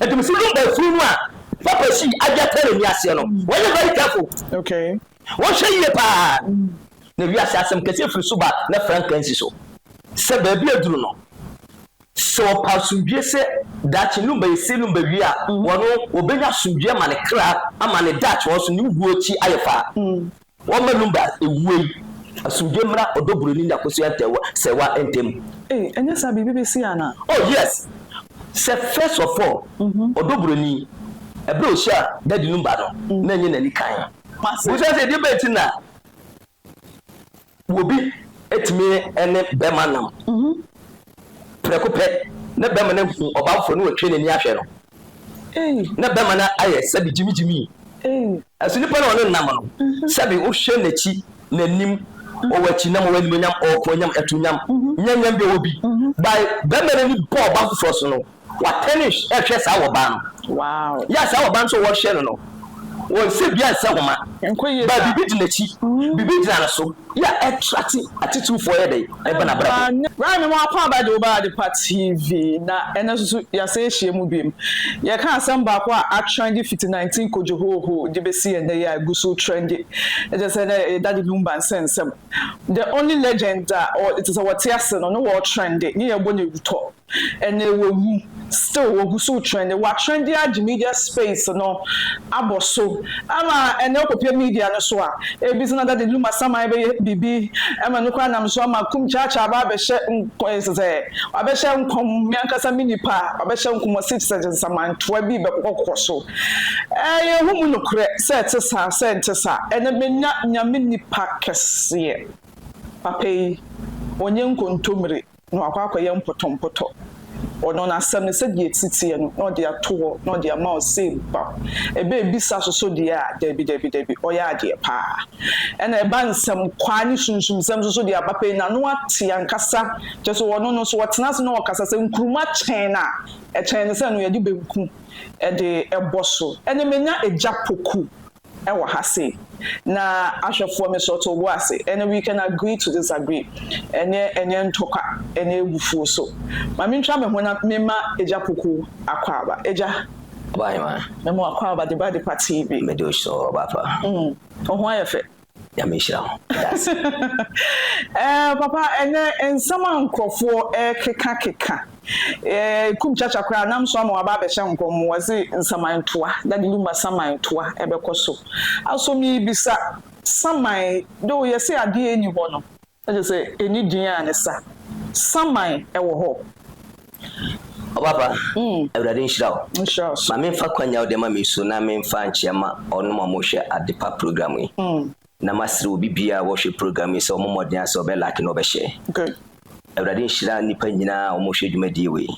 Ɛdum so dum ɛfunu no a papa si ade atɛ n'ani aseɛ no wɔyɛ very careful okay wɔhwɛ yie paa na wiase asɛm kɛse firi so ba na franka nsi so sɛ baabi aduru no sɛ ɔpa asomdwie sɛ daakye num bɛyɛ se num bɛwie a wɔno wɔbɛnya asomdwie ma ne kra ama ne daakye wɔn so ne wuo akyi ayɛ faa Wɔmma Lumba nwuo yi. Asomdwoe mmra ɔdɔ buroni ne akosua ntɛɛwa sɛɛwa ntamu. Ei ɛnyɛ saa biribi bɛsi ana. Oh yes sɛ first of all ɔdɔ buroni ɛberɛ a ɔhyiaa daddy Lumba no na ɛnyɛ n'ani kann wobusa sɛ ɛdeɛ bɛn nti na obi tumi ne bɛɛma nam. Prɛko pɛ, na bɛrima no ahu ɔbamfo no watwe n'ani ahwɛ no. Ná bɛrima no ayɛ sɛbe gyimigyimii. Nanso nipa no a ɔne no nam no, sɛbe wohwɛ n'akyi, n'anim, ɔwɔ akyinnyam, ɔwɔ animuonyam, ɔwɔ koonyam, atunyam, nyanyam bi a ɔwɔ bi. Bye, bɛrima no ani bɔɔ ɔbaa foforɔ so no, Watɛne hwɛ saa wɔbaa no. Yɛ a saa wɔbaa no nso wɔhwɛ no no, wɔn sɛ biara nsɛ homa. Baa biribi di n'akyi, biribi gyina ne so. Yɛ a ɛtrate atitirifoɔ yɛ dɛn? Ɛba n'abrabɔ mu. Bra me mmoa kwan bɛgye wo ba Adepa TV na ɛnɛ nso so yɛasan ahyia mu bio. Yɛka asɛm baako a atrɛnde fiti 19 Kojohoohoo de bɛsi ɛnnɛ yi a ɛgu so retrɛnde. Ɛkyɛ sɛ na ɛyɛ Daddy Lumba nsɛnsɛm. The only legend a ɔ, ɛkyɛ sɛ wɔte ase no, ne wɔretrɛnde, ne yɛrebɔ no awutɔ. Ɛnɛ wawu, still wɔgu so retrendi. Watrendi agye media space no abɔ so ama ɛnɛ wokɔpue media no so a, ebi sɛ na Daddy Lum Asaman bɛyɛ biribi ama no koraa nam so ama Kum Kyaakyaa aba abɛhyɛ nk ɛ sɛ wabɛhyɛ nkɔm, me ankasa me nipa a wabɛhyɛ nkɔm ɔse te sɛ nsamantoa bi bɛkokɔ kokɔ so. Ɛɛ yɛhu mu nokorɛ sɛ ɛte saa sɛ ɛnte saa. Ɛnɛ manya Nyame nipa kɛseɛ. Papa yi ɔnyɛ nkontomire. na wakɔ akɔyɛ mpɔtɔmpɔtɔ wɔ no, na asɛm no sɛdeɛ ɛsi teɛ no, na ɔde ato hɔ, na ɔde ama wo sei bam. Ɛbɛ ɛbisa soso deɛ a, dabi, dabi, dabi, ɔyɛ adeɛ pa ara. Ɛna ɛba nsɛmkwaa ne sunsumsɛm soso deɛ a, papa yi n'ano ate ankasa, kyerɛ sɛ ɔno no so ɔtena ase na ɔkasa, sɛ nkruma kyɛn no a, ɛkyɛn no sɛ ɛno yɛde banku de bɔ so. Ɛna manya agya poku. wɔ ha sei, na ahwɛfoɔ mesɔ too bo ase, ɛnneɛ we can agree to disagree, ɛnneɛ ɛnyɛ ntɔkwa ne abufuo so. Ma mentwa me ho na memma Agya Poku akwaaba. Agya. Boayoma. Mema wo akwaaba de ba Adepa TV. Mede wo hyɛ hɔ, Ɔbapa. Mm, wo ho ayɛ fɛ. Nyame nhyira wo. Ɛɛ papa ɛnɛ nsɛm a nkurɔfoɔ ɛkeka keka ɛɛ kum kyakya koraa nam so ama waba abɛhyɛ nkɔm wɔse nsaman toa dade luma saman toa ɛbɛkɔ so aso mebisa saman do yɛse adeɛ ɛni hɔ no Ɛkyerɛ sɛ ɛnni din a ne sa. Saman wɔ hɔ. Ɔbaapa, Awurade nhyira wo. Nhyira wo nso. Ma memfa kwan yi a wode ama me yi so na memfa nkyea mma wɔnom a wɔhwɛ Adepa program yi. Na masrɛ obi biara a wɔhwɛ program yi sɛ ɔmmɔ mmɔden ara sɛ ɔbɛ like na ɔbɛ share. Good. Awurade nhyira nnipa nyinaa a wɔhwɛ dwumadie wei.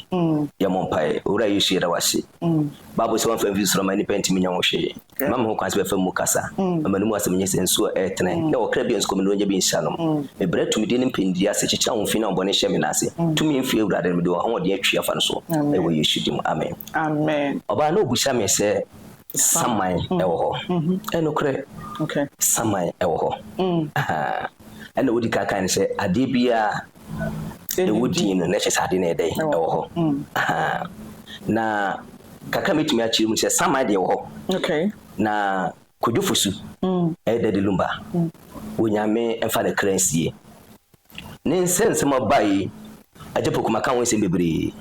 Yɛmmɔ mpaeɛ. Owura Yesu yɛda wo ase. Bible sɛ wamfa amfiri soro amma nnipa antumi nyɛ ho hwee. Mma me ho kwan sɛ bɛfa mu kasa, mma m'anom asɛm nyɛ sɛ nsu a ɛretene, na ɔkra biara nso kɔmnonya bi nhyɛ anom. Mebrɛ tumidi ne mpɛndiri ase, kyekyere ahofin a ahobɔne hyɛ me nan ase. Tumi mfiri Awurade, na mede ahoɔden atwi afa no so, wɔ Yesu din mu, amen. Ɔbaa na obisa me sɛ saman wɔ hɔ. Ɛyɛ nokorɛ, saman wɔ hɔ. Ɛnna wodi kan kae no sɛ, Adeɛ biara Ewu din no na ɛkyerɛ sɛ ade no yɛ dɛn? Ɛwɔ hɔ. Na kakra a mɛtumi akyerɛ mu sɛ Saman deɛ ɛwɔ hɔ. Na Kojo Fosu ɛyɛ Daddy Lumba. Onyame mfa ne kra nsie. Ne nsɛ nsɛm a ɔba yi, Agya Poku maka ho nsɛm bebree.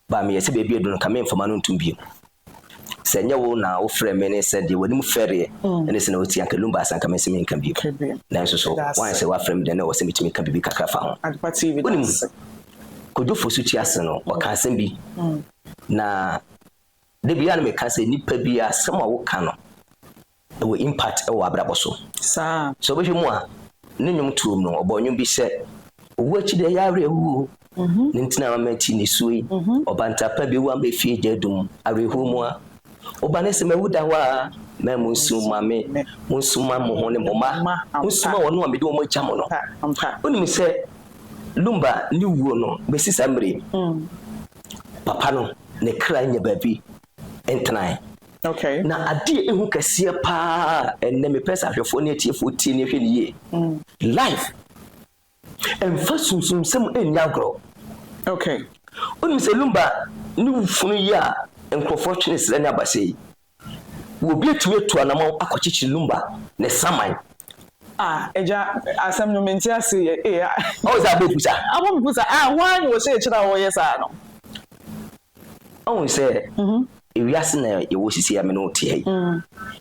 Ba meyɛ sɛ baabi aduru no nka memfama no ntom bio. Sɛ nyɛ wo na wo frɛ me ne sɛ deɛ w'anim fɛreɛ ɛne sɛ na wotie anka Lumba asɛ anka mentumi nka bio. Nanso so woayɛ sɛ woafrɛ me dɛn na ɛwɔ sɛ metumi ka biribi kakra fa ho? Wonim, Kojo Fosu ti ase no ɔka asɛm bi na da biara na meka sɛ nnipa bi asɛm a woka no Ɛwɔ impact wɔ w'abrabɔ so. Saa. Sɛ wobɛhwɛ mu a, ne nnwom tuom no, ɔbɔɔ nnwom bi sɛ, Owu akyi deɛ ɛyɛ awerɛhoɔ o, ne nti na mama ti nisuo yi, ɔbanta pa bi wu a mefie gya adum, awerɛhoɔ mu a. Woba ne sɛ mawu da hɔ aa, mɛn monsu mma me, monsu mma mo ho ne mo mma, monsu mma wɔnom a mede wɔn agya mo no. Wonim sɛ Lumba ne wuo no bɛsi saa mmerɛ yi, papa no ne kra nnya baabi ntenae. Okay. Na adeɛ a ehu kɛseɛ paa a ɛnnɛ mepɛ sɛ ahwɛfoɔ ne atiefoɔ tie ne hwɛ ne yie. Mm. Life ɛmfa sunsumsɛm nni agorɔ. Okay. Wonim sɛ Lumba ne funu yi a nkurɔfoɔ twe ne serɛ ne abasɛ yi, obi atumi atu anamɔn akɔkyekyere Lumba ne saman. Ah, agya, asɛm no mente ase yɛ. Ee, a. Ɔwɔ sɛ abɔ kusa. Abɔ kusa, ah, hwan na ɔhyɛɛ kyerɛ a wɔyɛ saa no? Woahu sɛ ewiase na yɛwɔ sisi a me ne wo te ha yi.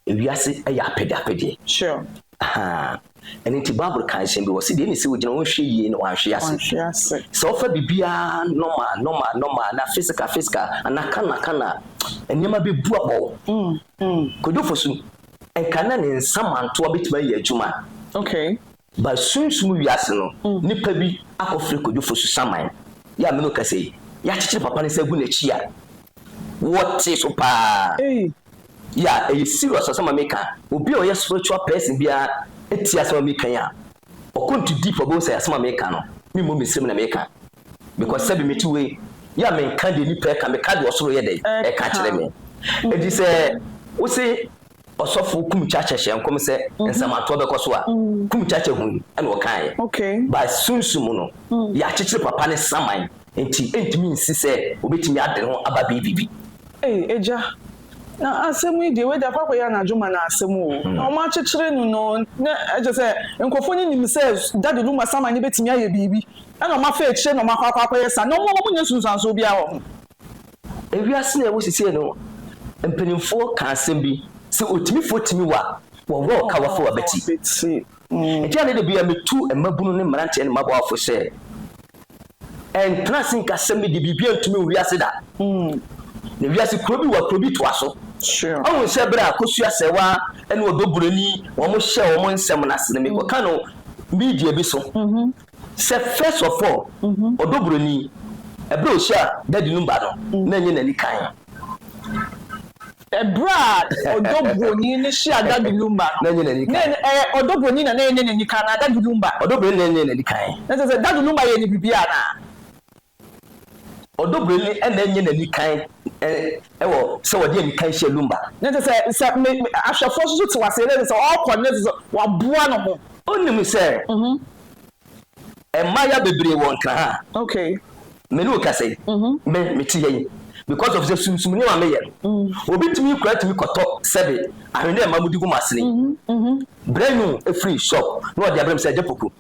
Ewiase yɛ apɛdeapɛdeɛ. Sure. Ahaa. Ɛno nti Bible ka nsɛm bi wɔ se deɛ ɛne sɛ wogyina hɔ nhwɛ yie na wanhwe ase. Wanhwe ase. Sɛ wofa biribiara normal normal normal na physical physical anaa kan na kan a, nneɛma bɛbu abɔ wo. Kwadwo Fosu, nka na ne nsa mantoa bɛtumi ayɛ adwuma. Okay. Ba sunsum wiase no nipa bi akɔfrɛ Kojo Fosu Saman yi a me ne wo kasa yi, yɛakyekyere papa no nsa agu n'akyi a wɔte so paa. Ya, ɛyɛ serious asɛm a meka. Obi a ɔyɛ spiritual person biara tie asɛm a meka yi a ɔkɔ into deep a ɔbɛhu sɛ asɛm a meka no, memmɔ me nsam na meka because sɛbe mete wei yi a menka deɛ nipa ɛka, meka deɛ ɔsoro yɛ dɛn ɛka kyerɛ me. Enti sɛ wose. Ɔsɔfo Kumchakyɛ hyɛɛ nkɔm sɛ nsɛmatoɔ bɛkɔ so a, Kumchakyɛ hui ɛna ɔkaeɛ. By sunsum no, yɛakyekyere papa no saman nti ɛntumi nsi sɛ ɔbɛtumi ade ne ho aba biribi. Ei agya, na asɛm yi deɛ wei de akɔ akɔyɛ anadwo ma no asɛm o. Na wɔn akyekyere no no, na ɛkyerɛ sɛ nkurɔfoɔ no nim sɛ Daddy Luma saman no bɛtumi ayɛ biribi ɛna wɔn afa akyire na wɔn akɔ akɔ akɔyɛ saa. Na wɔn wɔn nyɛ nsunsuansoɔ biara wɔ ho. Ewiase no a ɛwɔ seesei no mpanimfoɔ ka asɛm bi sɛ otimifoɔ tumi wa wɔwɔ ɔka wafa w'abati. Enti a na da biara metu mmabunu ne mmeranteɛ ne mmabaawa fo sɛ ɛntena ase nka asɛm no de biribiara ntumi wo wiase da. Na wiase kuro bi wa kuro bi toa so. Ɔhu sɛ berɛ a Kosu Asɛwa ne Ɔdɔ Buroni wɔhyɛɛ wɔn nsɛm no ase no mekɔka no media bi so. Sɛ first of all ɔdɔ buroni ɛberɛ a ɔhyia daddy no ba no na ɛnyɛ n'ani kan. Ɛberɛ a ɔdɔ buroni no hyia daddy no ba no na ɛnyɛ n'ani kan. Na ɛyɛ ɔdɔ buroni na na ɛnyɛ n'ani kan anaa daddy no ba. Ɔdɔ buroni na ɛnyɛ n'ani kan. Na kyerɛ sɛ daddy no ba yɛ no biribi anaa. Ɔdɔbrɛni na ɛnyɛ n'ani kan wɔ sɛ ɔde ani kan hyɛ lumba. Na ɛsɛ sɛ sɛ me ahwɛfoɔ nso so te wo aseɛ na ɛsɛ sɛ ɔkɔ na ɛsɛ sɛ waboa ne ho. Wonim sɛ mmaayewa bebree wɔ nkra ha a me ne wo kasa yi me mete ha yi because of sɛ sumsum nneɛma a meyɛ no. Obi tumi koraa tumi kɔtɔ sɛbe ahweneɛ mma mudi gu mo asene yi brɛ nwo firi shop na ɔde abrɛ me sɛ agya poku.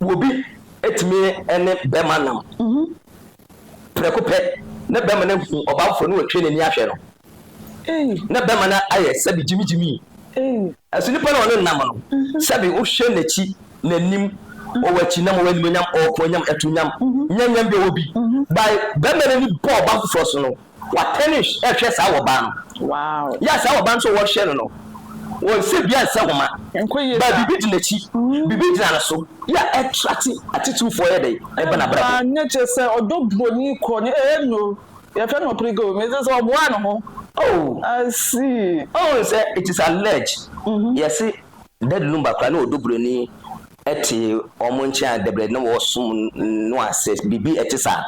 Obi tumi ne bɛma nam prɛko pɛ na bɛma no ahu ɔbamfo no watwe n'ani ahwɛ no na bɛma no ayɛ sɛbi gyimigyimii. Ɛso nipa no ɔne nam no sɛbi wohwɛ n'akyi, n'anim, ɔwɔ akyi nam, ɔwɔ animonyam, ɔwɔ kɔn nyam, ɛto nyam, nyanyam bi ɔwɔ bi. By bɛma no ani bɔ ɔbam foforɔ so no. Watɛne hwɛ saa wɔbaa no. Yɛ a saa wɔbaa no nso wɔhwɛ no no, wɔnsɛ bia nsɛ homa. Baa biribi di n'akyi, biribi gyina no so. Yɛ a ɛtrate atitirifoɔ yɛ dɛn? Ɛba n'abrabɔ. Ɛba ne kyɛ sɛ ɔdɔ buroni kɔ ne ɛɛ no. Yɛfrɛ no ɔpirigo. Mese sɛ ɔboaa ne ho. Oh. I see. Ɔhu sɛ it is alleged. Yɛse Daddy Lumba koraa na ɔdɔ buroni te wɔn nkyɛn a dɛbrɛ na wɔsom no ase biribi ɛte saa.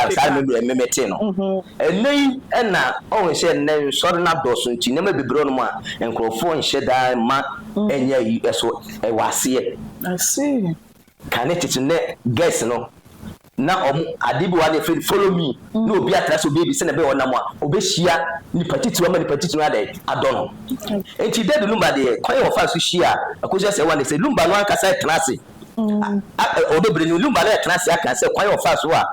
saa no deɛ memete no ɛnɛ yi ɛna ɔhu sɛ nnɛ nsɔre no adɔɔso nti nneɛma bebree nom a nkurɔfoɔ nhyɛ daa ma ɛnyɛ yi ɛso ɛwɔ aseɛ. Kan ne tete nnɛ girls no na wɔn ade bi wɔ hɔ a na yɛfrɛ no follow me na obi atra sɛ obeedi sɛnea ɛbɛyɛ ɔnam a obehyia nipa titiriw ama nipa titiriw no ayɛ dɛn adɔ no nti Debbie Lumba deɛ kwan a wɔfaa so hyia a ɛkɔsi sɛ wɔn ne sɛ Lumba no ankasa tena ase a ɔdɔ bere no Lumba no tena ase aka sɛ kwan a wɔfaa so a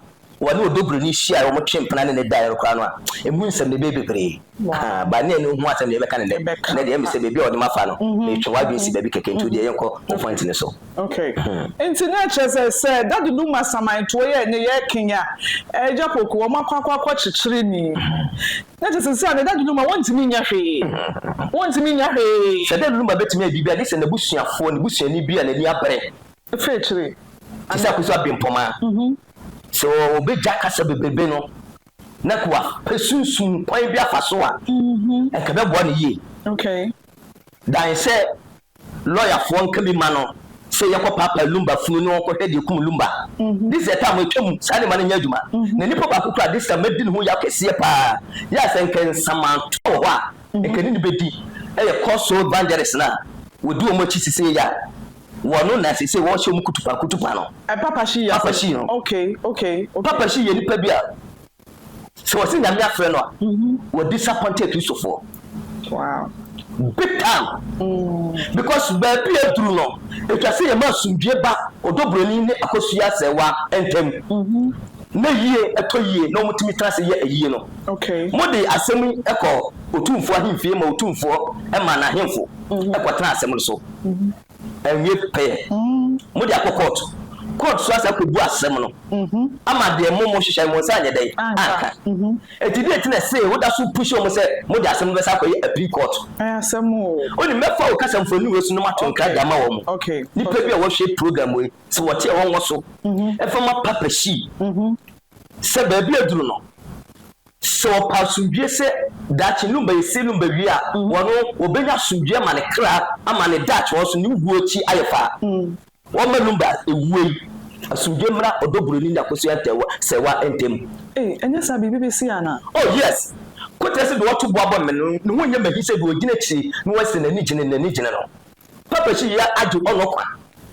wɔne ɔdɔbroni hyiae a wɔtwee mpena ne no daeɛ no koraa no a, ɛmu nsɛm no ɛbɛyɛ bebree. Ahaa, but ne ani nhu asɛm deɛ yɛbɛka no nnɛ. Nnɛ deɛ ɛyɛ me sɛ baabi a wɔde me afa no, metwe w'adwene si baabi kɛkɛ, nti wodeɛ yɛnkɔ wo point no so. Okay. Nti na ɛkyerɛ sɛ, sɛ Daddy Luma Asaman toɔ yɛ ne yɛ Kenya, Agya Poku, wɔn akɔ akɔ akɔ kyekyere ni. Na ɛkyɛ sɛ seesei deɛ Daddy Luma wɔntumi nyɛ hwee. Wɔntumi nyɛ hwee. Sɛ Daddy Luma bɛtumi ayɛ biribi a, gye sɛ n'abusuafoɔ, ne busuani bi a n'ani abere. Ɛfiri akyire. Te sɛ Akusu Abempoma. So wobegya kasa bebrebe no na kua pɛ sunsum kwan bi afa so a, ɛnka ɛbɛboa no yie. Okay. Dan sɛ lɔyafoɔ nka bi ma no sɛ yɛkɔ paapae lumba funu ne wɔnkɔhwɛ deɛ kum lumba. This is the time ɛtwa mu saa nneɛma no nyɛ adwuma. Na nipa baako koraa this time madi ne ho yaw kɛseɛ paa. Yɛ a sɛ nka nsamantɔ wɔ hɔ a, nka ɛne no bɛdi. Ɛyɛ cold sore bandages no a wɔdi wɔn akyi sisei a. Wɔ no na sesei wɔ hyɛ ɔmo kutupa kutupa no. Ɛ papa shi yɛ papa shi no ok ok ok. Papa shi yɛ nipa bi a sɛ wɔ se nyame afrɛ no a wɔ disappointed kristofoɔ. Wow. Big time mm. Because baabi a duru no etwa se yɛ ma asomdwie ba ɔdɔ buroni ne akosua sɛɛwa ntɛm. Mm -hmm. na yie ɛtɔ yie na wɔn tumi tena ase yɛ ayie no. Mo de asɛm yi kɔ Otumfoɔ ahemfie ma Otumfoɔ ma n'ahemfo kɔ tena asɛm no so. Anwie pɛyɛ, mo de akɔ kɔɔto. Kɔɔto nso asan akɔ bu asɛm no ama deɛ mo mo hyehyɛɛ mo nsa anyɛ dɛn anka. Enti deɛ nti na ɛsee wo da so pushi wɔn sɛ mo de asɛm no bɛsan akɔ yɛ appeal kɔɔto. Wonim, mɛfa wo kasamfoɔ aniwa su no mato nkra de ama wɔn. Nipa bi a wɔhwɛ program yi sɛ wɔte ɛhɔ ngo so fa ma Papa Xi sɛ baabi aduru no, sɛ ɔpɛ asomdwoeɛ sɛ daakye no bɛyɛ sei no bɛwie a, ɔno wɔbɛnya asomdwoeɛ ama ne kra ama ne daakye hɔ so ne wuo akyi ayɛ faa. Wɔmma Lumba ɛwuo yi asomdwoeɛ mmra ɔdɔ buroni ne akosua ntɛɛwa sɛɛwa ntam. Ei, ɛnyɛ saa biribi bɛsi anaa? Oh yes! Koterɛ sɛ deɛ ɔto bo abɔ no me no, ne ho nyɛ m'ahi sɛ deɛ ɔgyina akyire na wɔse n'ani gyene, n'ani gyene no. Papa si yɛ agye ɔnɔ kwa.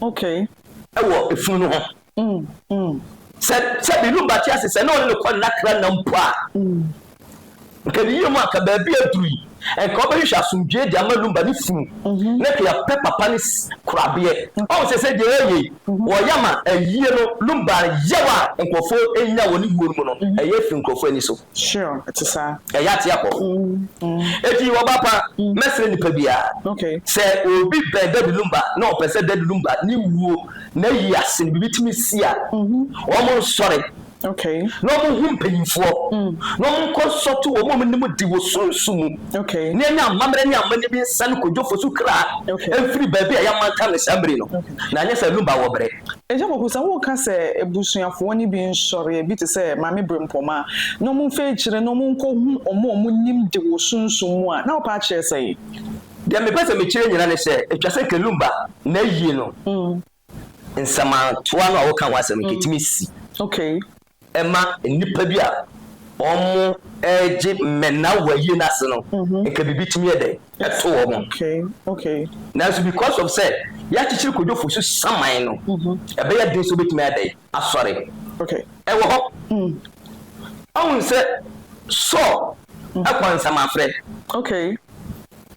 Okay. Ɛwɔ efunu no ho. Sɛ sɛ bi no ba te ase sɛ na ɔne ne kɔ nna kra nna mpo a. Nka ne yie mu anka baabi a aduru yi nka ɔbɛ hwehwɛ asomdwie de ama lumba ne funu na nka yɛ pɛ papa ne korabeɛ. Ɔn sɛ sɛ deɛ ɛyɛ yi wɔ yɛ ama ayie no lumba yaw a nkurɔfoɔ nya wɔ ne wuo no mu no ɛyɛ firi nkurɔfoɔ ani so. Sure, ɛte saa. Ɛyɛ ate akɔ. Eti ɔba pa, mɛsrɛ nipa biara sɛ obi bɛn Daddy Lumba na ɔpɛ sɛ Daddy Lumba ne wuo, n'ayie ase no biribi tumi si a, wɔn nsɔre na wɔn hu mpanyinfoɔ na wɔn nkɔ nsɔto wɔn a wɔn nim de wɔ sunsun mu na yɛn nya amammerɛ ne amanneɛ bi nsa ne kodwofo so kra mfiri baabi a yɛamantam no saa mmere no na anyɛ sɛ Lumba wɔ bere. Agya Kwaku, sɛ woreka sɛ abusuafoɔ no bi nsɔreɛ bi te sɛ Maame Brempoma na wɔmfa akyire na wɔnkɔhu wɔn a wɔnim de wɔ sunsum mu a, na wopɛ akyerɛ sɛn? Deɛ mepɛ sɛ mekyerɛ nyinaa ne sɛ, ɛtwa sɛ Kalumba na ayie no nsɛmatoa no a woka ho asɛm no nka ɛtumi si. Okay. ɛma nnipa bi a wɔregye mmɛnna wɔ ayie no ase no nka biribi tumi yɛ dɛn ɛto wɔn nanso because of sɛ yɛakyekyere kodwofo so saman no ɛbɛyɛ den sɛ wobɛtumi ayɛ dɛn asɔre ɛwɔ hɔ ɔhu sɛ Saul ɛkɔ nsamafrɛ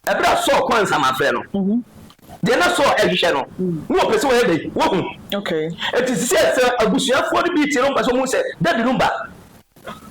ɛberɛ a Saul kɔ nsamafrɛ no Deɛ na Saul rehwehwɛ no, na wɔpɛ sɛ wɔyɛ dɛn? Wɔhu. Enti sɛ sɛ abusuafoɔ no bi te no mpɛ sɛ wɔhu sɛ dadi no ba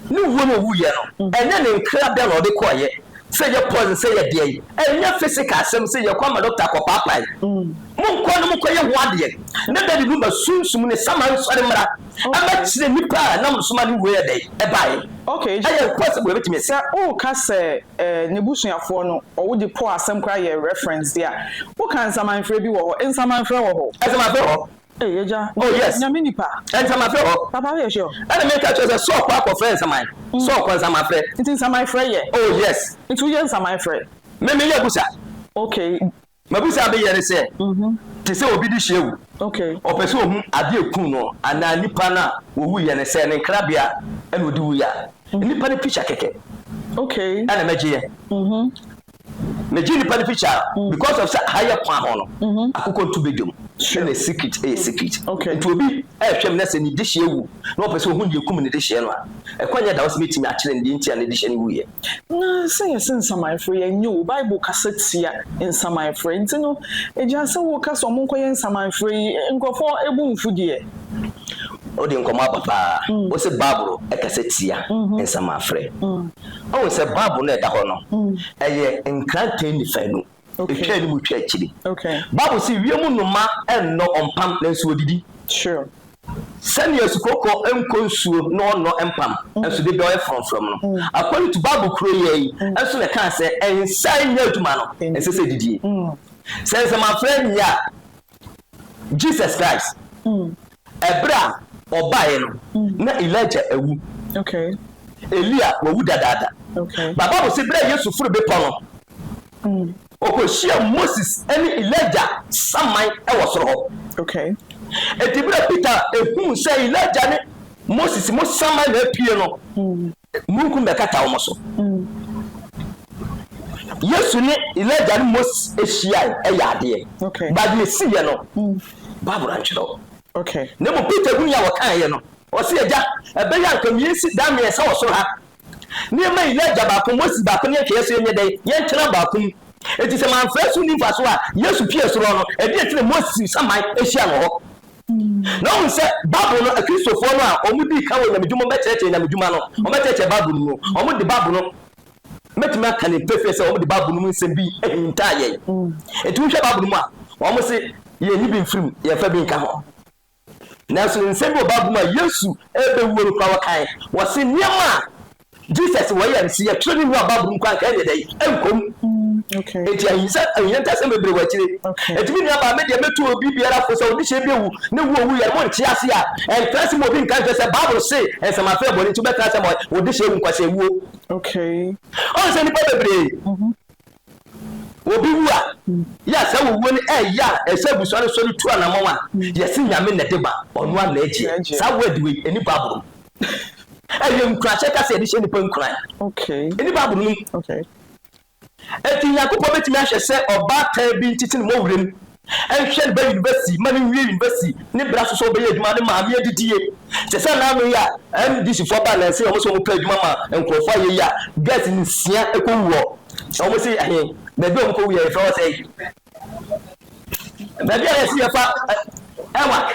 ne wuo na ɔwuiɛ no, mm. ɛnyɛ ne nkra bɛn na ɔde kɔɔyɛ sɛ yɛ poison sɛ yɛ deɛn, ɛnyɛ physical asɛm sɛ yɛkɔ ama dɔkta kɔpaapae. Mm. Monkɔ no mokɔyɛ ho adeɛ na dadi no ba sunsum ne sama nsɔre mmra. ɛbɛ kyerɛ nipa a na mo soma no wuo ɛdɛn ɛbae okay ɛyɛ impossible ɛbɛtumi asi. Sɛ woka sɛ ɛɛ nebusuafoɔ no ɔwo de po asɛm koraa yɛ reference deɛ a woka nsamanfrɛ bi wɔ hɔ nsamanfrɛ wɔ hɔ. Nsamanfrɛ wɔ hɔ. Ei agya oh yes nyame nipa. Nsamanfrɛ wɔ hɔ. Papa woyɛ sure. Ɛna me ka kyerɛ sɛ Saul kɔ akɔ frɛ nsaman Saul kɔ nsamanfrɛ. Nti nsamanfrɛ yɛ. Oh yes. Nti woyɛ nsamanfrɛ. Me me yɛ abusa. Okay M'abisa a meyɛ ne sɛ, Te sɛ obi de hyia awu, ɔpɛ sɛ ohu ade a ekum no anaa nipa no a owuiɛ no sɛ ne nkrabea na ɔde wuiɛ a, nnipa no pikya kɛkɛ na mɛgyeɛ. Megye nnipa no pikya a, because of sɛ ha yɛ kwa ho no, akokɔ ntu bɛ dwam na ne secret yɛ secret. Nti obi rehwɛ me na sɛ ne de hyia wu na ɔpɛ sɛ ohu deɛ ekum ne de hyia no a, ɛkwan nyɛ da hɔ sɛ mɛtumi akyerɛ no deɛ nti a ne de hyia no wuiɛ. Na sɛ yɛse nsamanfrɛ yi a, nnyɛ o, Bible kasa tia nsamanfrɛ. Nti no, agya, sɛ woka sɛ ɔmo nkɔyɛ nsamanfrɛ yi, nkorɔfoɔ bo mfu deɛ. Wode nkɔmmɔ aba paa. Wose Bible kasa tia nsamanfrɛ. Woahu sɛ Bible no a ɛda hɔ no, ɛyɛ nkrantɛ nnifaanu. ɛtwa anim twa akyiri bible sɛ wiem nnoma nnɔ ɔmpam nanso wɔdidi sɛnea asukɔkɔ nkɔ nsuo na ɔnnɔ mpam mm. nso de dɔɛ frɔmfrɔm no mm. according to bible kuro yɛ yi mm. nso na ɛkaa sɛ ɛnsa nyɛ adwuma no ɛnsɛ sɛ didie sɛ nsɛmafrɛ nyɛ a Jesus Christ ɛberɛ a ɔbaeɛ no na Elijah awu, Elia wawu dadaada. But Bible se berɛ a Yesu foro bepɔ no, ɔkɔhyiaa Moses ne Elijah saman wɔ soro hɔ. Enti berɛ a Peter huu sɛ Elijah ne Moses mo saman na apue no, Mununkum bɛkata wɔn so. Yesu ne Elijah ne Moses hyiae yɛ adeɛ. Ba deɛ ɛsiiɛ no, Bible antwerɛ hɔ. Na mmom Peter hunii a wɔkaeɛ no, ɔse, Agya, ɛbɛyɛ anka mmiɛnsi daa mmiɛnsa wɔ soro ha, na yɛmma Elijah baako, Moses baako ne yɛntwɛeɛ so yɛnyɛ dɛn? Yɛntena baako mu. Enti sɛ mamfrɛ so nni mfasoɔ a, Yesu pue soro no, ɛdeɛn nti na Moses saman hyia no hɔ? Na wohu sɛ Bible no, Akristofoɔ no a wɔdii kan wɔ nyamedwuma mu bɛkyerɛkyerɛ nyamedwuma no, wɔbɛkyerɛkyerɛ Bible no mu. Wɔde Bible no, mɛtumi aka no pefee sɛ wɔde Bible no mu nsɛm bi hintaa yɛn. Enti wohwɛ Bible no mu a, wɔse yɛnyi bi mfiri mu, yɛmfa bi nka ho. Nanso nsɛm bi wɔ Bible mu a Yesu rebɛwuo no koraa wɔkae. Wɔse nneɛma a Jesus wɔ yɛn, se yɛtwerɛ ne nua Bible nko anka ɛneɛ dɛn? Ɛnkɔ mu. Enti ahinsa, ahia ntasɛm bebree wɔ akyire. Enti me nuabaa, me deɛ mɛtu obi biara fo sɛ ɔde hyɛ bi awu, ne wo owuiɛ no monte ase a, ɛntra ase ma obi nka nkyerɛ sɛ Bible se nsɛm afra bɔne nti wobɛtra ase ama wo de hyɛ awu nkwaseawuo. Ɔhu sɛ nnipa bebree Obi wu a, yɛ a saa owuo no ɛyɛ a ɛsɛ abusua no sɔre tu anamɔn a, yɛse Nyame na ɛde ba, ɔno ara na ɛgyeɛ. Saa word wei, ɛnni Bible mu. Ɛyɛ nkuranhyɛ kasa a yɛde hyɛ nnipa nkuran. Ɛnni Bible no mu. Enti Nyankopɔn bɛtumi ahwɛ sɛ ɔbaatan bi nkyekyere mmɔ wuram Ɛnhwɛ ne ba university ma no wie university ne bere aso sɛ ɔbɛyɛ adwuma ne maame adidie te sɛ naano yi a MDC foɔ baa nansa yi a wɔn sɛ wɔn pɛ adwuma ma nkorɔfoɔ ayɛ yi a girls nsia ɛkɔ wu hɔ na wɔn se ɛhe baabi a wɔn kɔ wu yɛ yɛfrɛ hɔ sɛn baabi a yɛse yɛfa ɛwak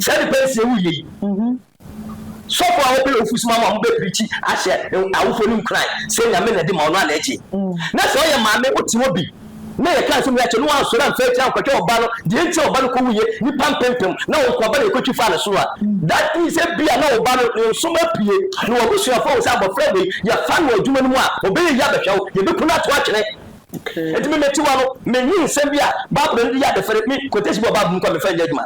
saa nipa nsia wu yɛ yi. Sɔfo a ɔbɛyɛ ofo soma ma wɔbɛpirikyi ahyɛ awofo no nkuran sɛ Nyame na di ma ɔno ara na ɛgye. Na sɛ ɔyɛ maame wote hɔ bi na yɛka asɛm yi akyerɛ no na wansɔre amfa agyina ankɔhwɛ ɔba no deɛ nti a ɔba no kɔwuiɛ nnipa mpempem na wo nkoaba na ɛkɔtwi faa ne sono a, that means ebia na wo ba no ne nsom apue na w'abusuafoɔ hu sɛ abɔfra wei yɛfa no adwuma no mu a ɔbɛyɛ yie abɛhwɛ wo, yɛbɛku no ato atwene. Enti me metiwa no, menwene nsɛm bi a Bible no de yɛ adefere, me, quotation bi wɔ Bible mu mpo a memfa nyɛ adwuma.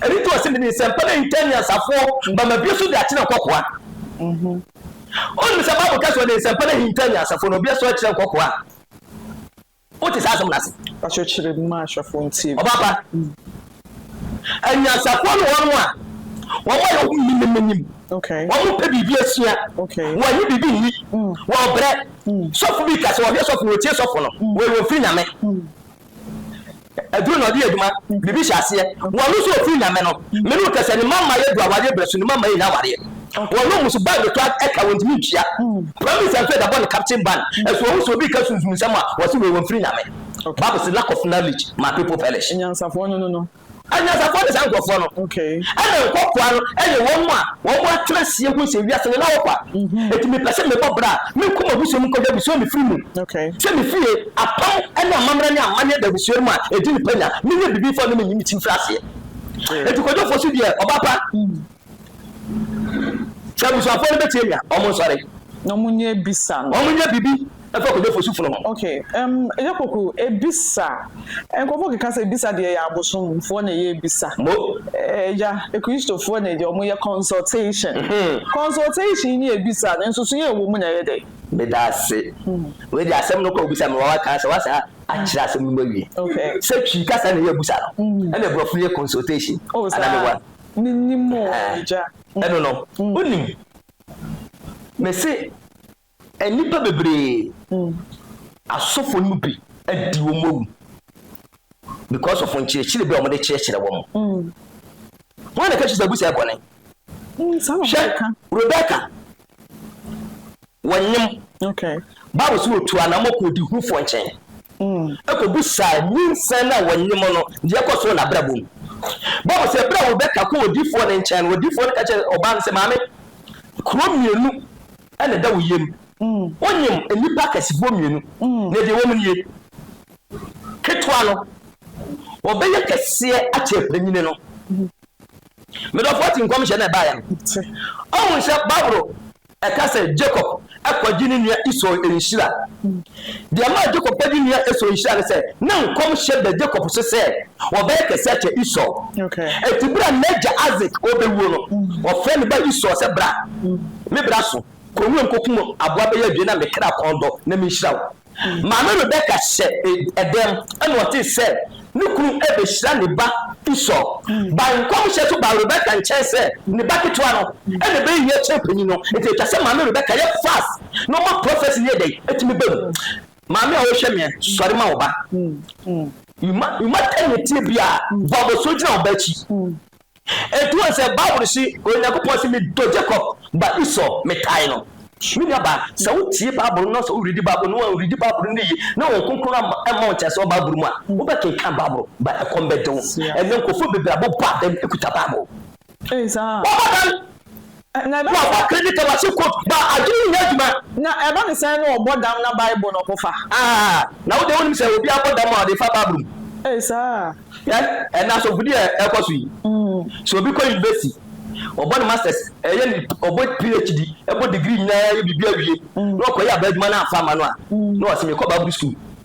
Ɛno nti ɔse mede nsɛmpa no ahinta anyansafoɔ ma mabue so de akyerɛ nkɔkoa. Wonim sɛ Bible ka sɛ ɔde nsɛmpa no ahinta anyansafoɔ na ɔbue so akyerɛ nkɔkoa. Wote saa asɛm no ase? Pastor kyerɛ mu ma ahwɛfoɔ ntie. Ɔbaapa, anyansafoɔ ne wɔnom a wɔn a yɛwɔ mu nim no nim. Wɔn pɛ biribi asua. Wɔn ani biribi nni. Wɔn brɛ. Sɔfo bi ka sɛ ɔhwɛ sɔfo na ɔtie sɔfo no, wɔyɛ wɔn firi Nyame. Aduru na ɔde yɛ adwuma, biribi hyɛ aseɛ. Wɔno nso ɔfiri Nyame no. Mene wo kasɛ ne mma mma yɛ du awareɛ berɛ so ne mma mma yɛ nya awareɛ. Wɔno mmusu bag de tɔ a ka wɔntumi ntua. Prime minister nso ɛda bɔ ne captain ban ɛso ɔhu sɛ obi reka sunsum nsɛm a ɔse wei wɔmfiri Nyame. Bible se lack of knowledge ma people perish. Anyansafoɔ no no no. Anyansafoɔ ne saa nkurɔfoɔ no, ɛna nkɔkoaa no yɛ wɔn a wɔn atenaseɛ ho sɛ wiase no na wɔkɔ a, enti mepɛ sɛ mebɔ bra a menkɔ m'abusua mu nkɔgya abusua a mefiri mu, sɛ mefie apam ne amammerɛ ne amanneɛ da abusua no mu a ɛdi ne panya, menyɛ biribi mfa nnu me ne me ti mfiri aseɛ. Enti kwadwofoɔ so deɛ ɔbaa pa. Sɛ abusuafoɔ no bɛtie me a, wɔn nsɔre. Na wɔn nyɛ ebisa no. Wɔn nyɛ biribi ɛfa kɔdɔ fosu funu ho. Ok ɛm ɛyɛ koko ebisa nkorɔfoɔ keka sɛ ebisa deɛ ɛyɛ abosom foɔ na ɛyɛ ebisa. Mo. Ɛya ekristo foɔ na ɛdeɛ wɔn yɛ consultation. Consultation ne ebisa no nsoso yɛ ɛwɔ mu na ɛyɛ dɛn. Medase. Wei deɛ asɛm no kɔ obisa me wawa kaa sɛ wa saa akyerɛ asɛm no mu awie. Sɛ twi kasa na ɛyɛ abusa no ɛna aborɔfo no yɛ consultation. Oh saa. Minnim o, Agya. Ɛno no, wonnim. Mese, nnipa bebree, asɔfo no mu bi adi wɔn awu because of nkyerɛkyerɛ bi a wɔde kyerɛkyerɛ wɔn. Wɔn na ɛka kyerɛ sɛ abusua yɛ bɔne. Hwɛ, Rebecca. wɔnyem. Bible sɛ wɔtuu anammɔ kɔɔ ɔdehufoɔ nkyɛn kɔbisaa nyinsɛn no a wɔnyem no deɛ ɛkɔ so wɔ n'abrabɔ mu. Bible sɛ berɛ a Rebeka kɔɔ odiyifoɔ no nkyɛn no, odiyifoɔ no ka kyerɛɛ ɔbaa no sɛ, Maame, kuro mmienu na ɛda wo yam. Wonyem nnipa akɛsefoɔ mmienu, na deɛ ɛwɔ mu nie, ketewa no, ɔbɛyɛ kɛseɛ akyɛ panyini no. Me dɔfoɔ te nkɔmhyɛ no a ɛbaeɛ no. Ɔhu sɛ Bible ɛka sɛ Jacob kɔgye ne nua Esau nhyira. Deɛ ɛmaa Jacob kɔgye ne nua Esau nhyira ne sɛ, na nkɔmhyɛ ba Jacob so sɛ ɔbɛyɛ kɛse akyɛ Esau. Enti berɛ a n'agya Isaac rebɛwuo no, ɔfrɛɛ ne ba Esau sɛ, Bra, me bra so, kɔ nwuram kɔkum aboa bɛyɛ abien na me kra kɔn dɔ na menhyira wo. Maame Rebeka hyɛɛ dɛm na ɔsee sɛ ne kunu behyira ne ba Esau. Bae nkɔmhyɛ so baa Rebeka nkyɛn sɛ ne ba ketewa no na ɛbɛyɛ yie akyɛn panyin no. Enti ɛtwa sɛ Maame Rebeka yɛ fast na ɔma prophecy no yɛ dɛn? Tumi ba mu. Maame a wohwɛ meɛ, sɔre ma wo ba. Mma ɛnnyɛ tie biara, bɔ abɔsoɔ gyina wo ba akyi. Ɛtoa sɛ Bible se, Onyankopɔn se, Medɔ Jakob, but Esau, metan no. Me nua baa, sɛ wo tie Bible no na sɛ wo readi Bible no, wan readi Bible no ne yie, na Honhom Kronkron amma, amma wo ntease wɔ Bible mu a, wo bɛ kenkan Bible, but ɛkɔm bɛ de wo. Ɛnnɛ nkurɔfoɔ bebree abɔ bɔ adan, ɛkuta Bible. Bɔ bɔ adan! Na ɛba. Wɔfa Greek Tabachi quote ba a, adwene yi nyɛ adwuma. Na ɛba ne sɛn na ɔbɔ dam na Bible na ɔpo fa? Aah, na wo deɛ wonim sɛ obi abɔ dam a ɔde fa Bible mu? Ei saa. Hwɛ ɛnnɛ asɔfodi a ɛkɔ so yi. Sɛ obi kɔ university, ɔbɔ ne masters, ɛyɛ ne, ɔbɔ PHD, ɛbɔ degree nyinaa, yɛ biribi awie, na ɔkɔyɛ abaa adwuma na amfa amma no a, na wase mekɔ Bible school.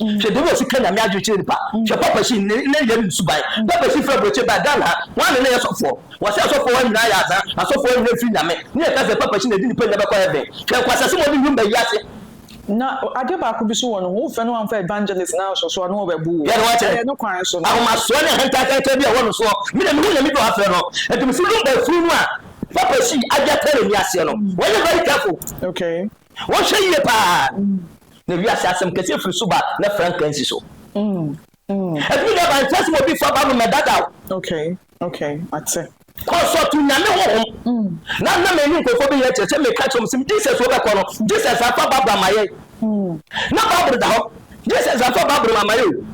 hwɛ deɛ wɔsi ka nyame adwene kyerɛ nipa hwɛ papa si ne ne yɛ ne suban papa si fɛ aburokye ba dan ha wɔn ne ne yɛ sɔfoɔ wɔsi asɔfoɔ wɔn nyinaa yɛ aza asɔfoɔ nyinaa firi nyame ne yɛ kasa papa si na edi nipa nyinaa bɛkɔ heaven hwɛ nkwasase mo de nwum bɛ yi ase. Na adeɛ baako bi so wɔ no ho wofɛ no anfa evangelist naa so so a na ɔbɛ bu wo ɛyɛ ne kwan so no. Ahomasoɔ ne ahantan kakra bi a ɛwɔ no soɔ me deɛ me hu nyame bi a wafrɛ no nti me si nwum bɛ firi mu a papa si adi atena n'ani aseɛ no wɔn yɛ very careful. Okay. Wɔnhwɛ yie paa na wiase asɛm kɛseɛ firi so ba na frankaa nsi so. Ɛtumi da ba nkyɛ sɛ obi fa ba no mɛdadaw. Okay, okay, mate. Kɔsɔ to nyame honhom. Na na mɛni nkurɔfoɔ bi yɛ kyerɛ sɛ meka kyerɛ wɔn sɛ Jesus wɔbɛkɔ no Jesus afa Bible ama yɛn. Na Bible da hɔ Jesus afa Bible ama yɛn o.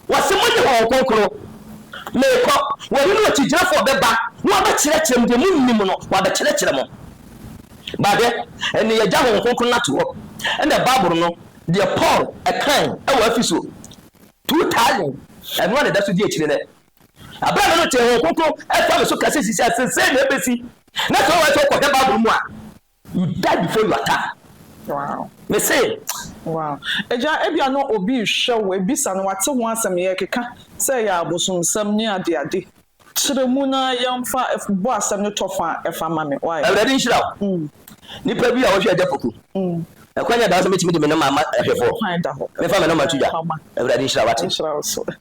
Wɔse monye Honhom Kronkron meekɔ, wɔne no akyigyinafoɔ bɛba na wɔabɛkyerɛkyerɛ mo deɛ monnim no, wɔabɛkyerɛkyerɛ mo. Bade, ɛnne yɛagya Honhom Kronkron no ato hɔ. Ɛnna Bible no, deɛ Paul kae wɔ Efeso 2000, ɛno ara na ɛda so di akyire nnɛ. Aberɛ a me no tee Honhom Kronkron fa me so kɛse sisi a, sesei na ɛbɛsi. Na sɛ wowɔ ha sɛ wokɔhwɛ Bible mu a, You die before your time. Wow. Me se. Wow. Agya, ebia na obi rehwɛ wo, abisa no, wate ho asɛm, yɛrekeka sɛ ɛyɛ abosomsɛm ne adeade. Kyerɛ mu na yɛmfa bɔ asɛm no tɔ fa a ɛfa ma me. Why? Awurade nhyira wo. Nnipa bi a wɔhwɛ Agya Poku Ɛkwan a da hɔ sɛ mɛtumi de me noma ama ahwɛfoɔ, memfa me noma nto dwa, Awurade nhyira wo, wate?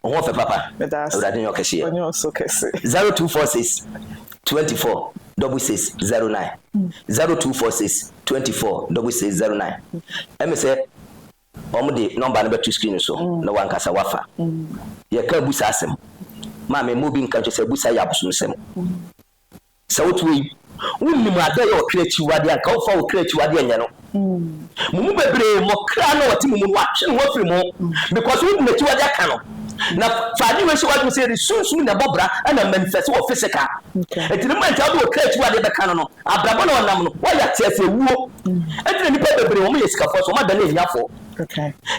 Wo ho ɔfɛ papa, Awurade nyɛ ɔkɛseɛ. Zero two four six twenty four double six zero nine zero two four six twenty four double six zero nine Ɛme sɛ wɔn de nɔmba no bɛto screen so na wankasa wafa. Yɛka abusa asɛm. Maame mma obi nka nkyɛ sɛ abusa yɛ abosomsɛm. Sɛ wote wei, wonnim adeɛ a ɛyɛ ɔkra akyiwadeɛ a, anka womfa wo kra akyiwadeɛ nyɛ no. Mo mu bebree, mo kra no a ɔte mo mu no, wɔatwe ne ho afiri mo because wode n'akyiwadeɛ aka no. Na fa adeɛ wei hyɛ w'adwene sɛ yɛde sunsum na ɛbɔ bra na manifest wɔ physical. Enti ne mma nti a wode wo kra akyiwadeɛ bɛka no no, abrabɔ na ɔnam no, woayɛ ateaseɛ wuo. Enti na nnipa bebree, wɔyɛ sikafoɔ nso wɔadane ahiafoɔ.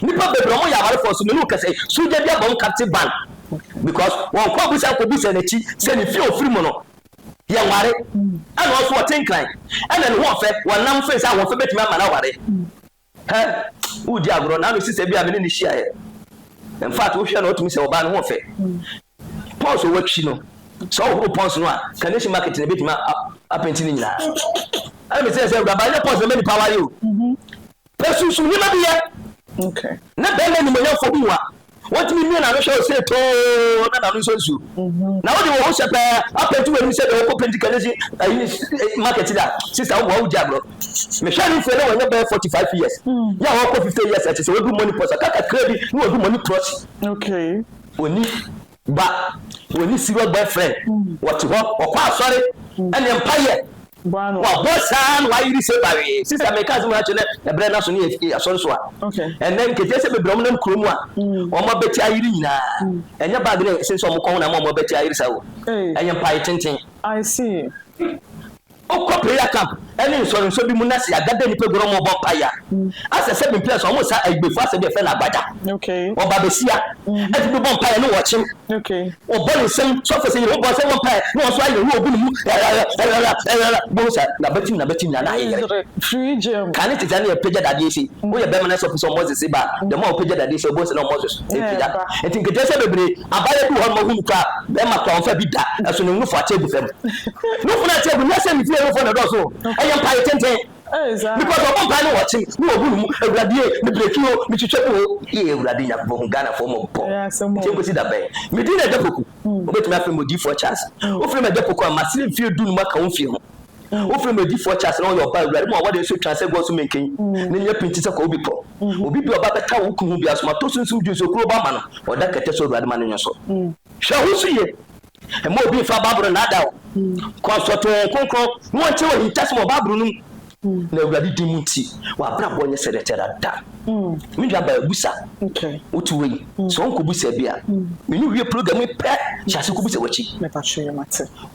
Nnipa bebree, wɔyɛ awarefoɔ nso, me ne wo kasa yi, sogya bi abɔ wɔn captive ban. because wɔn kɔ abusa kɔ busa n'akyi sɛ ne fie ofiri mu no yɛ nware ɛna ɔso ɔte nkran ɛna ne ho ɔfɛ wɔn nam fɛn sɛ ahoɔfɛ betumi ama n'aware hɛ wodi agorɔ na ano sisa bi a mene ne hyia yɛ in fact wohwɛ na ɔtumi sɛ ɔbaa ne ho ɔfɛ pɔns ɔwɔ akyi no sɛ ɔhoro pɔns no a kanesi market na ebetumi apɛnti ne nyinaa ɛna mesɛ sɛ awuraba ɛnyɛ pɔns na ɛma nipa aware o Hwɛ sunsum nneɛma bi yɛ. Ná barima animuonyamfo bi wɔ a wontumi mia n'ano hwɛ ɔsɛe too na n'ano nsɔ nsu. Ná wode wo ho hyɛ paa apentu w'anim sɛ deɛ ɔkɔ penti kanesi ayi ne market da. Sista woboa wogye agorɔ. Mehwɛɛ ne mfeɛ na wanya bɛyɛ 45 years. Yɛ a ɔkɔ 50 years a ɛkyerɛ sɛ wadu money pause kakra bi na wadu money prosi. Ɔnni. Ba, wɔn ne serious boyfriend wɔte hɔ wɔkɔ asɔre ɛne mpaeɛ wɔabɔ saa na wɔayere se bawee sista meka asem no akyerɛ na ɛbrɛ no aso ne yɛ asɔre so a ɛnɛ nketeɛ sɛ bebree wɔn nam kuro mu a wɔn abɛti ayere nyinaa ɛnyɛ bag ne ɛsem sɛ wɔn kɔn na ama wɔn abɛti ayere saa o ɛyɛ mpae tenten. I see. Wokɔ prayer camp ne nsɔrensɔ bi mu na sɛ yɛada da nnipa gua na wɔrebɔ mpaeɛ a, asɛ sɛ bmpia so wɔn sa Ayigbefo asɛ bi a yɛfrɛ no Agbada. Wɔba behyia, ɛfiri bi bɔ mpaeɛ ne wɔkyem. Wɔbɔ ne nsam so afei sɛ yɛhu bɔ nsam bɔ mpaeɛ na wɔn nso ayɛ wura ogu ne mu rɛrɛrɛ rɛrɛrɛ rɛrɛrɛ bohu sɛ n'abatim n'abatim nyinaa na ayeyere. Ka ne tete a na yɛpagya dadeɛ sei. Woyɛ barima na sɛ ɔpɛ sɛ ɔmoses sei ba a, the more a wopagya dadeɛ sei a wobɛhu sɛ na ɔmoses repagya. Nti nketeaseɛ bebree, abaayewa bi wɔ hɔ nom a wohu no koraa a, barima koraa ɔmfa bi da, ɛso ne nnufo akyɛ gu fam. No funu ɛkyɛ gu nyɛ sɛ ne fie no fo na ɛdɔɔso o ɛyɛ mpae tenten because ɔbɔ mpae no wɔ kye ne wɔ bu no mu awuradie me breki o me twitwa bu o ee awurade nyankopɔn hu Ghana foɔ mɔbɔ nti nkosi da bɛn me din na ɛda poku obetumi afrɛ me odiifoɔ Charles wofrɛ me ɛda poku a masere mfie du no mu aka wo mfie ho wofrɛ me odiifoɔ Charles na ɔyɛ ɔba awurade mu a wɔde nso twa sɛ gɔɔ so menken ne nyɛ pinti sɛ kɔɔ bepɔ obi bi ɔba bɛta wo kunu ho bi aso mato sunsum dwunsokuro ba ma no ɔda kɛtɛ so awurade ma no nyɛ so hwɛ ho so yie. Mma obi mfa Bible no nnaadaa wo. Kɔ asɔrtoo wɔn kronkron na wɔnkyɛ wɔ ahintasɛm wɔ Bible no mu. Na Awurade din mu nti, w'abrabɔ nyɛ sɛ dɛtɛ dada. Me nua baa busa. Wote wei? Sɛ wɔnkɔ busa bi a, me ne wie program yi pɛ, hyɛ ase kɔ busa w'akyi.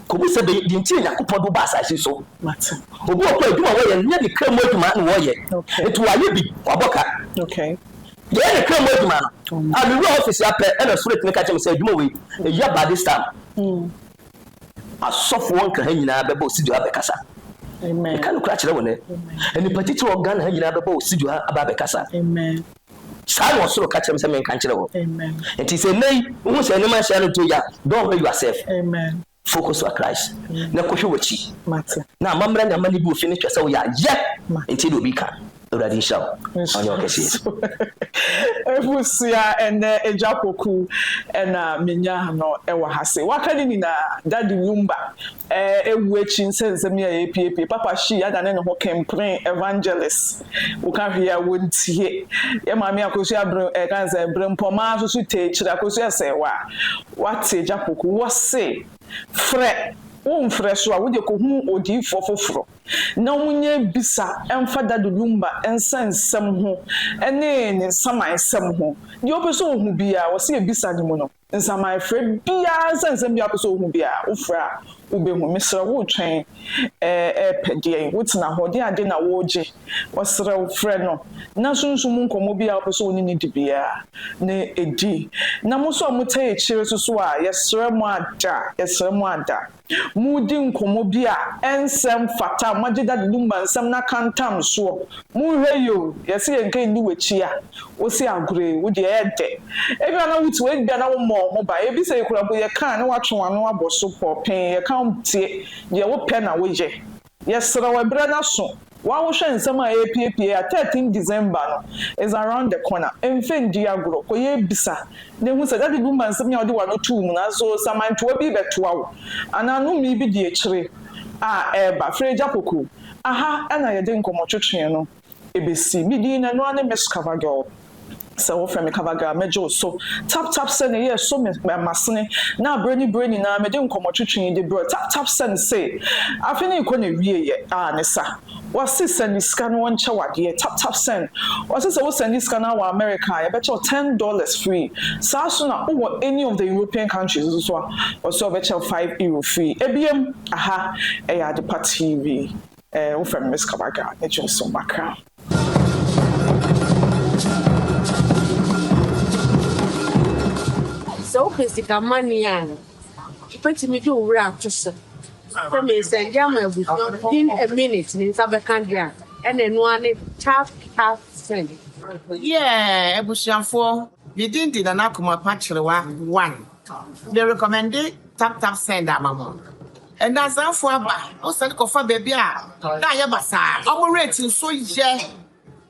Kɔ busa bɛ deɛ nti Nyankopɔn do ba asase so. Obi wɔ kɔ adwuma wɔyɛ nyɛ ne kra mu adwuma na wɔyɛ. Nti wɔayɛ bi, wɔabɔ ka. Yɛyɛ ne kra mu adwuma no. Ah, me wura office ha pɛ ɛna spirit no ka kyerɛ me sɛ adwuma wei ɛya by this time asɔfoɔ nka ha nyinaa bɛba osidua abɛkasa. Meka no kora kyerɛ wo nɛ. Nnipa titiri wɔ Ghana ha nyinaa bɛba osidua aba abɛkasa. Saa na ɔsoro ka kyerɛ me sɛ menka nkyerɛ wɔ. Nti sɛ nnɛ yi wohu sɛ nneɛma nhyɛ no nto ya, don't hurry yourself. Amen. Focus wa Christ na kɔhwɛ w'akyi na amammerɛ ne amanne bi ofi no kyerɛ sɛ woyɛ ayɛ nti na obi ka Awurade nhyira wo ɔnyɛ wo kɛseɛ. Abusua ɛnɛ agya poku ɛna menya no ɛwɔ ha se waka ne nyinaa daddy wumba ɛwu akyi nsɛ nsɛm yi a yɛpiepie papa she adane ne ho kempren evangelist woka hwee a wontie yɛ maame akosua ɛka ne sɛ brempɔmaa soso tee kyiri akosua sɛɛwaa W'ate Agyapoku, wɔ se, Frɛ, wo nfrɛ so a, wo deɛ kɔ hunu odiyifoɔ foforɔ, na wɔn nyɛ bisa mfa Dadu Lumba nsa nsɛm ho ne ne nsaman nsɛm ho, deɛ wopɛ sɛ wohu biara, wɔ se yɛ bisa ne mu no, nsaman frɛ biara nsa nsɛm biara wopɛ sɛ wohu biara, wo frɛ a, Wubehu. Mesrɛ wo retwɛn ɛɛ ɛɛpɛ deɛn? Wotena hɔ de ade na woregye? Ɔsrɛ wo, frɛ no na sunsum mu nkɔmmɔ bi a wopɛ sɛ wo ne no di biara no ɛdi. Na mo nso a motaa akyire susu a, yɛsrɛ mo ada, yɛsrɛ mo ada. Moredi nkɔmmɔ bi a ɛnsɛ mfata, moagye Dad Dumba nsɛm no akantam soɔ. Monhwɛ yie o, yɛse yɛnka ɛnni w'akyi a, Wosi agore, wo deɛ ɛyɛ dɛ. Ebia na wo tiw, ebia na wo mmɔɔ ho ban. Ebi sɛ yi koraa mpo yɛ kaa ne watwe w'ano abɔ so pɔɔpee, yɛ ka wo tie, deɛ wo pɛ na wo yɛ. Yɛ serɛ wo ɛberɛ no aso, waa wo hwɛ nsɛm a ɛrepiepie a 13 December no is around the corner, mfɛ ndi agorɔ, kɔ yɛ bisa na hu sɛ daddy bi ma nsɛm yi a wode w'ano too mu no aso, samantoa bi rebɛtoa wo anaa nomee bi di akyire a ɛreba, frɛ agya koko, aha na yɛde nkɔmɔtwetweɛ no. ebesi. Me din no, ɛno ara ne Miss Covergirl. Sɛ wofrɛ me Covergirl a, mɛgye wo so. Tap tap sɛ ne yɛɛ so me m'asene, na bere ne bere nyinaa mede nkɔmmɔtwetwe yi de brɛ wo. Tap tap sɛ ne se, Afe no rekɔ n'awieeɛ, ah ne sa. Wɔse sɛ ne sika no wɔnkyɛ wo adeɛ, tap tap sɛ no. Wɔse sɛ wosɛ ne sika no ara wɔ America a, yɛbɛkyɛ wo ten dollars free. Saa ara nso na wowɔ any of the European countries nso a, wɔse wɔbɛkyɛ wo five euro free. Ebiem, aha ɛyɛ Adepa TV. Eh wo fɛ Miss Kabaka ne Johnson Bakra. Sɛ wopɛ sika mane a, wobɛtumi de wo werɛ ato so sɛ mensɛnde ama abusua within a minute ne nsa bɛka deɛ a, ɛna ɛno ara ne tap tap send. Yeah abusuafoɔ, me din de Nana Kumah Kwakyerewa one. Me recommende tap tap send ama mo. Ɛnnɛ asaafo aba, wɔsan kɔfa baabi a na ayɛ basaa. Wɔn rate nso yɛ,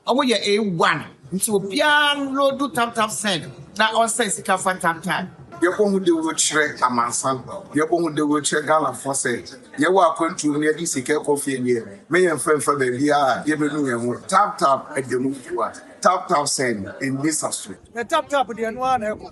wɔyɛ A1, nti obiara nloodu tamtam sɛn na ɔnsɛn sika mfa ntantan. Yɛbɔhu dawuro kyerɛ amansan, yɛbɔhu dawuro kyerɛ Ghanafoɔ sɛ yɛwɔ akwantuo na yɛde sika rekɔ fie deɛ, me yɛmfa mfa baabi a yɛbɛnu yɛn ho. Tap tap da mu, Tap tap sɛn, ɛnni saso. Tap tap deɛ ɛno ara na ɛkɔ.